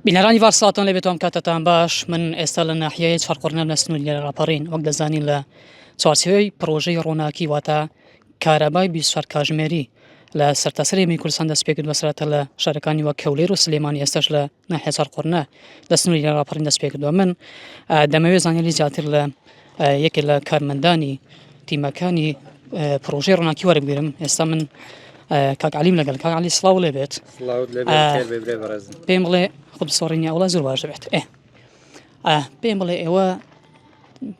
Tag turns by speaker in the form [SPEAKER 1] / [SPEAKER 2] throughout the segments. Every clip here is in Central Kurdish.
[SPEAKER 1] بینەرانی ڤار سڵاتان لێ بێتان کاتەتان باش من ئێستا لە ناحیەیە چڕقڕنەم لە سنووری لە ڕاپەڕین وەک دەزانین لە چوارچێوەی پڕۆژەی ڕووناکی واتە کارەبای بیسوار کاژمێری لە سەرتاسەری می کوردستان دەست پێکرد بەسرەتە لە شارەکانی وە کەولێر و سلێمانی ئێستش لە ناحیە چڕقڕنە لە سنووری لە ڕاپەڕین دەست پێکردووە من دەمەوێت زانیاری زیاتر لە یەکێ لە کارمەندانی تیمەکانی پرۆژەی ڕووناکی وەربگرم ئێستا من کاک علیم لەگەل کاک علی سڵاو لێ بێت پێم بڵێ خب سۆڕینی ئەوڵە زۆر باش بێت ئێ پێم بڵێ ئێوە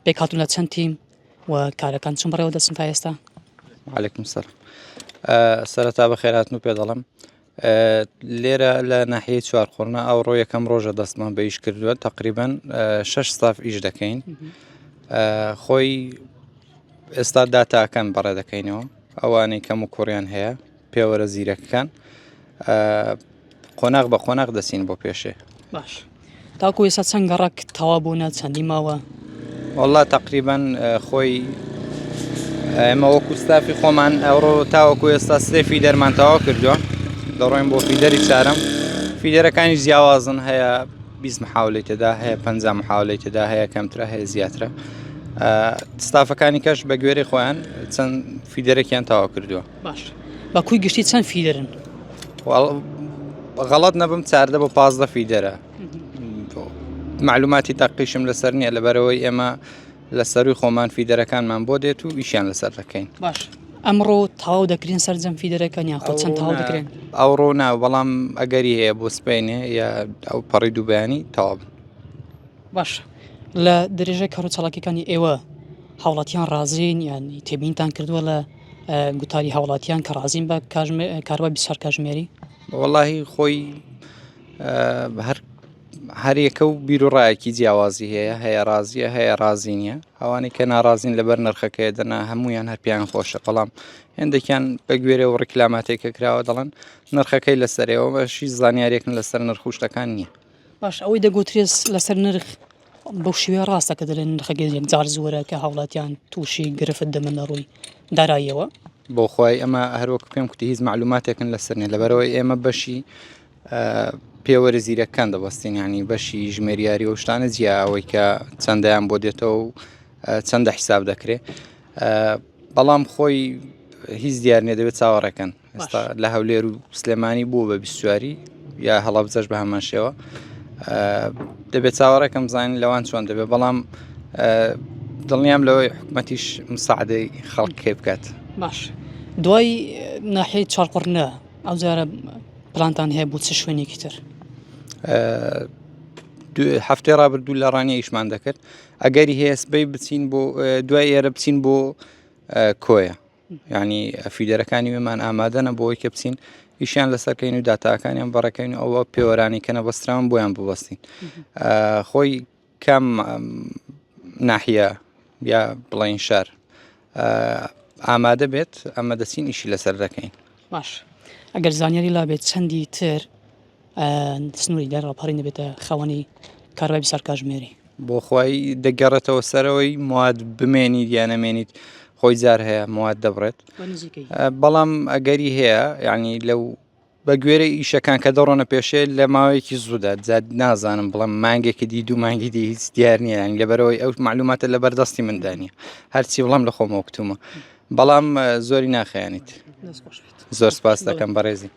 [SPEAKER 1] پێکاتون لە چەند تیم و کارەکان چون بڕێوە دەچن تا ئێستا عليهلێکم سەر
[SPEAKER 2] سەرەتا بە خێراتن و پێ دەڵم لێرە لە ناحیەی چوارقوڕنە ئەوڕۆ یەکەم ڕۆژە دەستمان بە ئیش کردووە تقریبان شش ساف ئیش دەکەین خۆی ئێستا داتاکەن بەڕێ دەکەینەوە ئەوانەی کەم و کوڕیان هەیە پێوەرە زیرەکەکان قۆناغ بە قۆناغ دەچین بۆ پێشێ باش
[SPEAKER 1] تاکو ئێستا چەند گەڕەک تەوا بوونە چەندی ماوە والله
[SPEAKER 2] تقریبان خۆی ئێمە وەکو ستافی خۆمان ئەوڕۆ تاوەکو ئێستا سێ فیدەرمان تەوا کردووە دەڕۆین بۆ فیدەری چارم فیدەرەکانی جیاوازن هەیە بیست محاولەی تێدا هەیە پ محاولەی تێدا هەیە کەمترە هەیە زیاترە ستافەکانی کەش بە گوێری خۆیان چەند فیدەرەکیان تەوا کردووە باش بە
[SPEAKER 1] کوی گشتی چەند فیدرن
[SPEAKER 2] غەڵت نەبم چاردە بۆ پازدە فیدرە معلوماتی تاقیشم لەسەر نییە لە بەرەوەی ئێمە لە سەروی خۆمان فیدرەکانمان بۆ دێت و ئیشیان لەسەر دەکەین باش ئەمڕۆ
[SPEAKER 1] تاو دەکرین سەررجەم فیدرەکان یان خۆ چەند تاو دەکرێن ئەوڕۆ ناو بەڵام
[SPEAKER 2] ئەگەری هەیە بۆ سپینێ یا ئەو پەڕی دووبیانی تاو باش
[SPEAKER 1] لە درێژە کەڕوو چاڵکیەکانی ئێوە هاوڵاتیان ڕازین یانی تێبینتان کردووە لە گوتاری هاوڵاتیان کە ڕازیم بە کاروای بیسار کاژمێری وەڵی خۆی
[SPEAKER 2] هەر هەرێکە و بیرروڕایەکی جیاوازی هەیە هەیە ڕازیە هەیە ڕازی نیە ئەوانەی کە ناڕازین لەبەر نرخەکەی دەنا هەمویان هەر پێیان خۆشە بەڵام هێندێکیان بە گوێرە و ڕیکلاماتێکە کراوە دەڵن نرخەکەی لەسەرەوە بەشی زانیارێکن لەسەر نرخوشتەکان نییە باش ئەوەی
[SPEAKER 1] دەگوترێت لەسەر نرخ بەو شێوەیە ڕاستە کە دەڵێن نرخە گەنج یەکجار زۆرە کە هاوڵاتیان تووشی گرفت دەبن لە ڕووی داراییەوە بۆخوای
[SPEAKER 2] ئەمە هەروەک پێم کوتی هیچ معلوماتێکن لەسەر نیە لەبەرەوەی ئێمە بەشی پێوەرە زیرەکان دەبەستین ینی بەشی ژمێریاری و شتانە جیاوەی کە چەندیان بۆ دێتەوە و چەندە حیساب دەکرێت بەڵام خۆی هیچ دیار نیە دەبێت چاوەڕێکەن ئێستا لە هەولێر و سلێمانی بوو بە بیستواری یا هەڵبجەش بە هەمان شێوە دەبێت چاوەڕێکم زانین لەوان چۆن دەبێت بەڵام دڵنیام لەوەی حکومەتیش مساعدەی خەڵکێ بکات باش
[SPEAKER 1] دوای ناحی چاڵقڕنە ئەو جارە پلانتان هەیە بوو چ شوێنێکی تر
[SPEAKER 2] هەفتێ ڕابردوو لە ڕانیە ئیشمان دەکرد ئەگەری هەیە سبەی بچین بۆ دوای ئێرە بچین بۆ کۆیە یانی فیدەرەکانی وێمان ئامادەنە بۆی کە بچین ئیشیان لەسەرکەین و داتاکانیان بەڕێکەین ئەوە پێوەرانی کە نەبەستراون بۆیان ببەستین خۆی کام ناحە یا بڵین شار ئامادە بێت ئەمە دەچین ئیشی لەسەر دەکەین باش
[SPEAKER 1] ئەگەر زانیاری لابێت چەندی تر سنوری دەر ڕاپەڕین دەبێتە خاوەنی کارەبای بیست ساڵ کاژمێری. بۆخوای
[SPEAKER 2] دەگەڕێتەوە سەرەوەی مواد بمێنیت یا نەمێنیت خۆی جار هەیە مواد دەبڕێت بەڵام ئەگەری هەیە یعنی لەو بە گوێرە ئیشەکان کە دەڕۆنە پێشێ لە ماوەیەکی زوودا زیاد نازانم بڵم مانگێکی دی دوو مانگی دی هیچ دیار نییە یان لەبەرەوەی ئەو معلوماتە لە بەردەستی مندانە هەرچی بڵام لە خۆمەوە کتومە بەڵام زۆری ناخیانیت. زۆر سپاس دەکەم بەڕێزی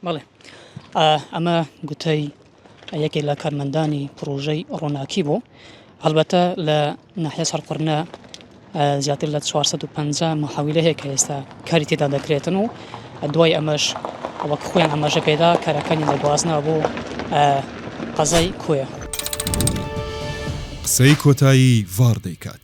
[SPEAKER 1] بەڵێ ئەمە گوتەی یەکێک لە کارمەندانی پرۆژەی ڕووناکی بوو هەڵبەتە لە ناحە سەرقڕنە زیاتر لە 450 مححاویلە هەیە کە ئێستا کاری تێدا دەکرێتن و دوای ئەمەش وەک خۆیان ئەمەژە پێدا کارەکانی دەگوازنا بۆ
[SPEAKER 3] قەزای کوێ قسەی
[SPEAKER 1] کۆتایی
[SPEAKER 3] ڤار دەیکات.